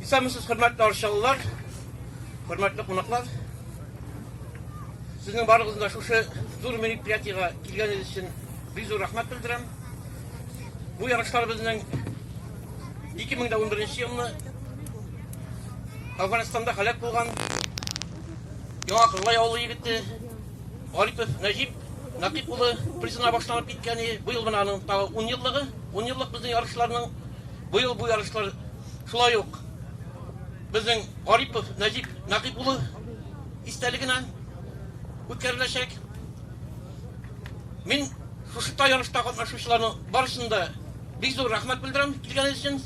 Исәнмесез, хөрмәтле арчалылар, хөрмәтле кунаклар. Сезнең барыгызны да шушы зур мероприятиегә килгәнегез өчен бик зур рәхмәт белдерәм. Бу ярышлар безнең 2011 елны Афганстанда халәк булган Яңа Кырлай авылы егете Гарипов Нәҗип Нәкыйп улы призына башланып киткәне, быел менә аның тагы ун еллыгы. Ун еллык безнең ярышларның быел бу ярышлар шулай ук безнең Гарипов Нәҗип Нәкыйп улы истәлегенә үткәреләчәк. Мин шушы та ярышта катнашучыларның барысын да бик зур рәхмәт белдерәм килгәнегез өчен.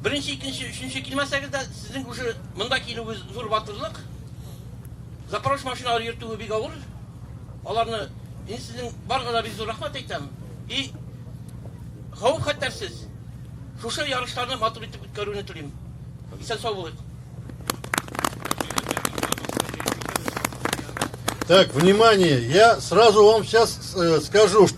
Беренче, икенче, өченче килмәсәгез дә, сезнең уже монда килүегез зур батырлык. Запорож машиналар йөртүе бик авыр. Аларны мин сезнең барга да бик зур рәхмәт әйтәм. И хавып хәтәрсез. Шушы ярышларны матур итеп үткәрүне телим. Исән сау булыйк. Так, внимание, я сразу вам сейчас э, скажу, что...